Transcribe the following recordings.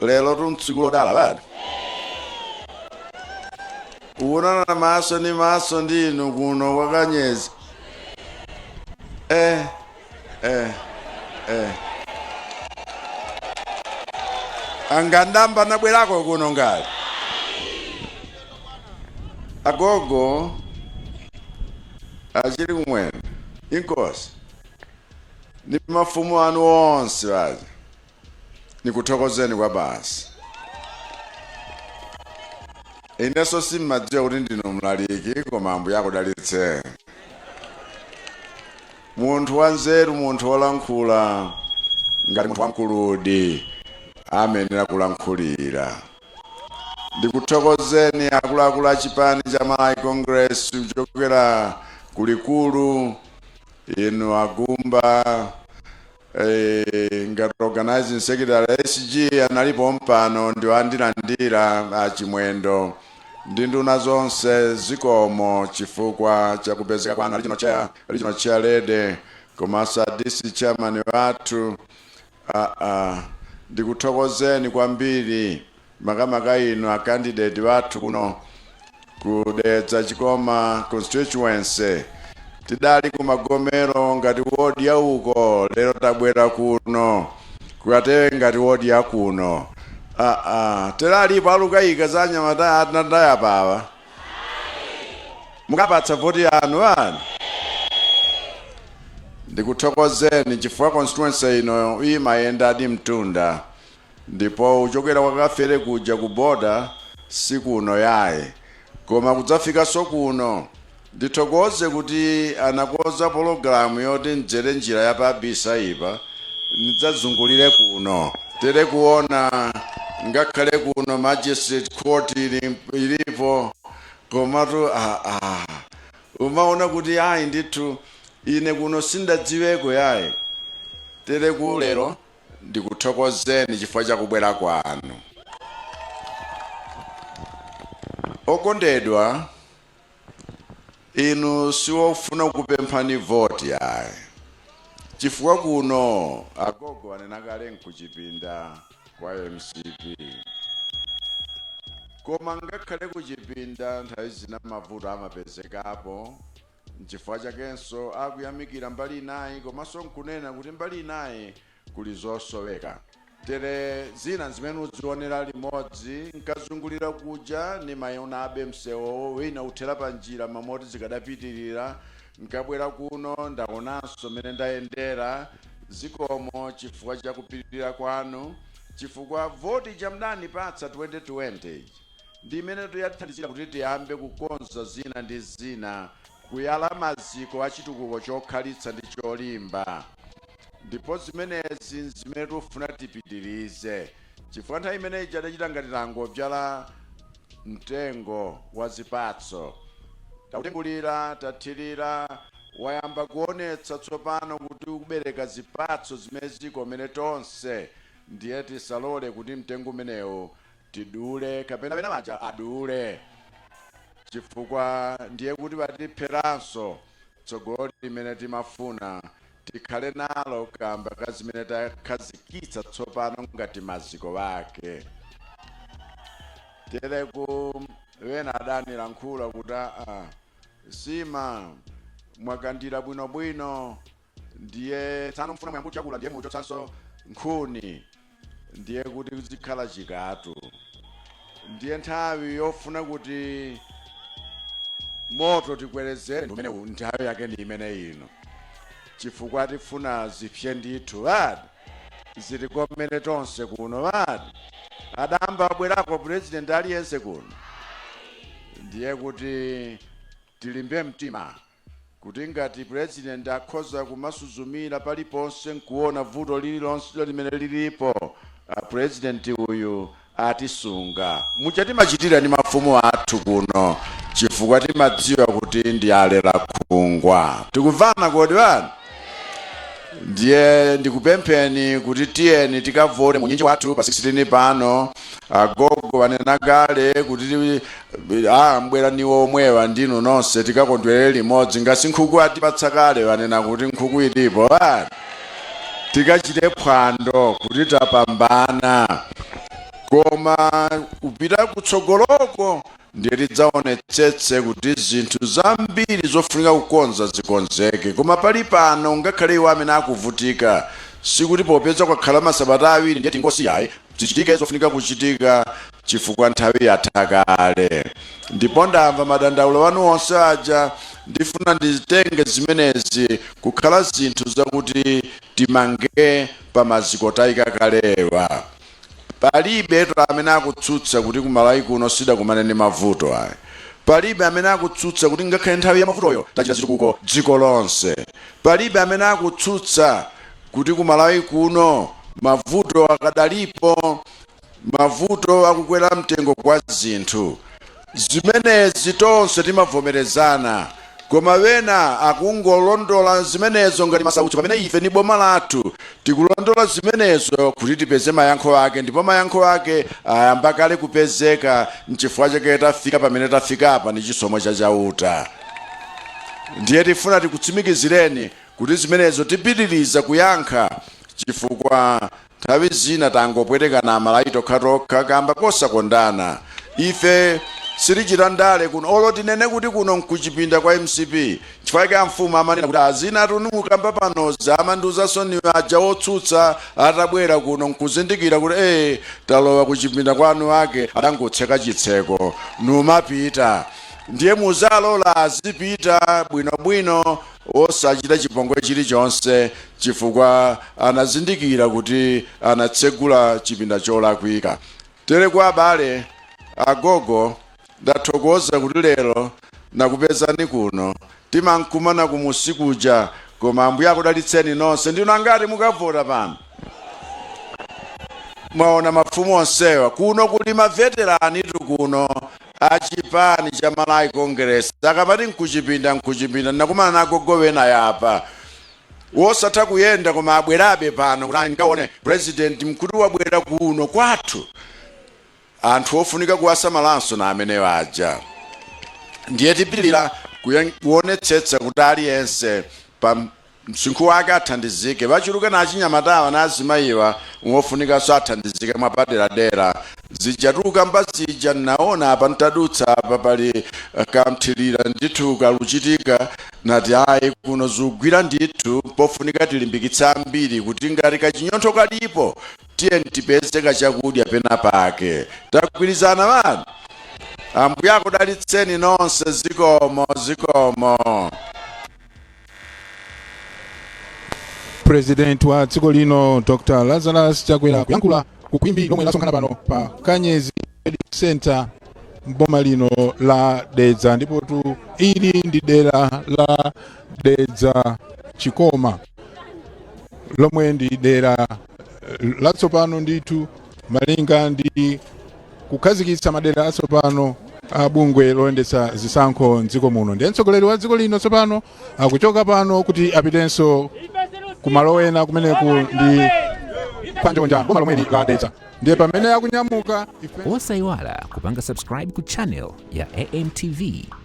lerotu ntsiku lodala lati kuonana maso ndi maso ndi inu kuno kwa kanyezi eh, eh, eh. nanga ndayamba nabwerako kuno ngati agogo a Chilikumwendo inkosi ndi mafumu anu onse aja nikuthokozeni kwabasi inenso simmadziwa kuti ndinu mlaliki koma ambuye akudalitse munthu wanzeru munthu wolankhula ngati munthu wamkuludi amayenera kulankhulira ndikuthokozeni akuluakulu a chipani cha malawi congress kuchokera kulikulu inu a Gumba Eee ngati organising secretary SG anali pompano ndiwo andilandira a Chimwendo ndi nduna zonse zikomo chifukwa cha kupezeka kwanu a regional chair, regional chair lady komanso a DC chairman wathu aa ndikuthokozeni kwambiri makamaka inu a candidate wathu kuno ku Dedza Chikoma constituency tidali ku Magomero ngati ward ya uko lero tabwera kuno ku Katewe ngati ward ya kuno ah, ah. tere alipo alukayika za anyamata atandala apawa mukapatsa voti yanu ani ndikuthokozeni chifukwa constituency ino imayendadi mtunda Ndipo kuchokera kwa Kafere kuja ku border sikuno yaye koma kudzafikanso kuno. Ndithokoze kuti anakonza pologalamu yoti ndzere njira ya pa Bisaipa nidzazungulire kuno. Tere kuona ngakhale kuno Magistrate Court ilipo komatu aah umaona kuti ayi ndithu ine kuno sindadziweko yaye. Tere ku lero ndikuthokozeni chifukwa cha kubwera kwanu. Okondedwa, inu siwofuna kupemphani voti yaye, chifukwa kuno agogo anena kale nkuchipinda kwa mcp koma ngakhale kuchipinda nthawi zina mavuto amapezekapo Nchifukwa chakenso akuyamikira mbali inayi komanso nkunena kuti mbali inayi kuli zosoweka. Tere zina zimene udzionera limodzi nkazungulira kuja nimaionabe msewuwo wina uthera panjira mwa moti zikadapitirira nkabwera kuno ndaonanso mene ndayendera zikomo chifukwa chakupirira kwanu chifukwa voti ija mdanipatsa 2020 ija Ndi imenetu yathandizira kuti tiyambe kukonza zina ndi zina, kuyala maziko a chitukuko chokhalitsa ndi cholimba. Ndipo zimenezi n'zimene tifuna tipitirize chifukwa nthawi imene ija tidachita ngati tangobzala mtengo wa zipatso. Tautengulira, tathirira, wayamba kuonetsa tsopano kuti ukubereka zipatso zimene zikomere tonse. Ndiye tisalole kuti mtengo umenewu tidule kapena wena waja adule chifukwa ndiye kuti watipheranso tsogolo limene timafuna tikhale nalo kamba ka zimene takhazikitsa tsopano ngati maziko ake tereku wena adanilankhula kuti aa nsima mwakandira bwinobwino ndiye tsano mfuna muyambe kutyakula ndiye muchotsanso nkhuni ndiye kuti zikhala chikatu ndiye nthawi yofuna kuti moto tikwerezere ndi umenewu nthawi yake ndi imene ino chifukwa tifuna zipse ndithu badi zitikomere tonse kuno wati adamba abwerako purezidenti aliyense kuno ndiye kuti tilimbe mtima kuti ngati pulezidenti akhoza kumasuzumira paliponse nkuwona vuto lililonse limene lilipo, pulezidenti uyu atisunga. Muja timachitira ndi mafumu athu kuno chifukwa timadziwa kuti ndi alerankhungwa. Tikumvana kodi bwana? ndiye ndikupempheni kuti tiyeni tikavote mu unyinji wathu pa 16 pano agogo wanena kale kuti a mbwera niwo omwewa ndinu nonse tikakondwerere limodzi ngasi nkhuku atipatsa kale wanena kuti nkhuku ilipo a tikachite phwando kuti tapambana koma kupita kutsogoloko Ndiye tidzaonetsetse kuti zinthu zambiri zofunika kukonza zikonzeke. Koma pali pano, ngakhale iwo amene akuvutika, sikuti popeza kwakhala masabata awiri ndiye tingosiya ayi. Zichitike zofunika kuchitika chifukwa nthawi yatha kale. Ndipo ndamva madandaulo anu onse aja. Ndifuna nditenge zimenezi kukhala zinthu zakuti timange pa maziko tayika kalewa. Palibetu amene akutsutsa kuti ku Malawi kuno sitidakumane ndi mavuto ayi. Palibe amene akutsutsa kuti ngakhale nthawi ya mavutoyo tachita zitukuko dziko lonse. Palibe amene akutsutsa kuti ku Malawi kuno mavuto akadalipo, mavuto akukwera mtengo kwa zinthu. Zimenezi tonse timavomerezana, koma wena akungolondola zimenezo ngati masautso pamene ife ndi boma lathu tikulondola zimenezo kuti tipeze mayankho ake ndipo mayankho ake ayamba kale kupezeka nchifukwa chake tafika pamene tafikapa ndi chisomo cha Chauta. Ndiye tifuna tikutsimikizireni kuti zimenezo tipitiriza kuyankha chifukwa Nthawi zina tangopwetekana amalawi tokhatokha kamba kosakondana. Ife sitichita ndale kuno olo tinene kuti kuno nkuchipinda kwa mcp nchifukwa chake amfumu amanena kuti zinatu tumukamba panozi amandiuzanso ndinu aja otsutsa atabwera kuno nkuzindikira kuti ee talowa kuchipinda kwa anuwake atangotseka chitseko numapita ndiye muzalola azipita bwinobwino osachita chipongwe chilichonse chifukwa anazindikira kuti anatsegula chipinda cholakwika. Tere kwa abale, agogo, ndathokoza kuti lero nakupezani kuno. Timankumana kumunsi kuja, koma Ambuye akudalitseni nonse. Ndinu angati mukavota pano? Mwaona mafumu onsewa? Kuno kuli maveteranitu kuno a chipani cha Malawi Congress. Akamati nkuchipinda nkuchipinda, ndinakumana na agogo wena apa. wosatha kuyenda koma abwerabe pano kuti nkaone president mkuti wabwera kuno kwathu anthu ofunika kuwasamalanso na amenewaja ndiye tipitiriza kuyen- kuonetsetsa kuti aliyense pa msinkhu wake athandizike wachuluka na achinyamatawa na azimayiwa wofunikanso athandizike mwapaderadera zija tukukamba zija naona apa ntadutsa apa pali eh, ka mthirira ndithu kakuchitika Nati, Ayi, kuno zugwira ndithu, mpofunika tilimbikitse ambiri kuti ngati kachinyontho kalipo, tiyeni tipeze kachakudya penapake. Tagwirizana anthu? Ambuye akudalitseni nonse, zikomo, zikomo. President wa dziko lino Dr Lazarus Chakwera kuyankhula ku khwimbi lomwe lasonkhana pano pa Kanyezi Center mboma lino la Dedza ndipotu ili ndi dera la Dedza Chikoma lomwe ndi dera eh, latsopano ndithu malinga ndi kukhazikitsa madera atsopano a bungwe loyendetsa zisankho mdziko muno ndiye mtsogoleri wa dziko lino tsopano akuchoka pano kuti apitenso kumalo ena kumeneku ndi kwa Njonja boma lomweli la Dedza ndiye pamene akunyamuka ife osayiwala kupanga subscribe ku channel ya amtv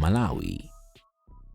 malawi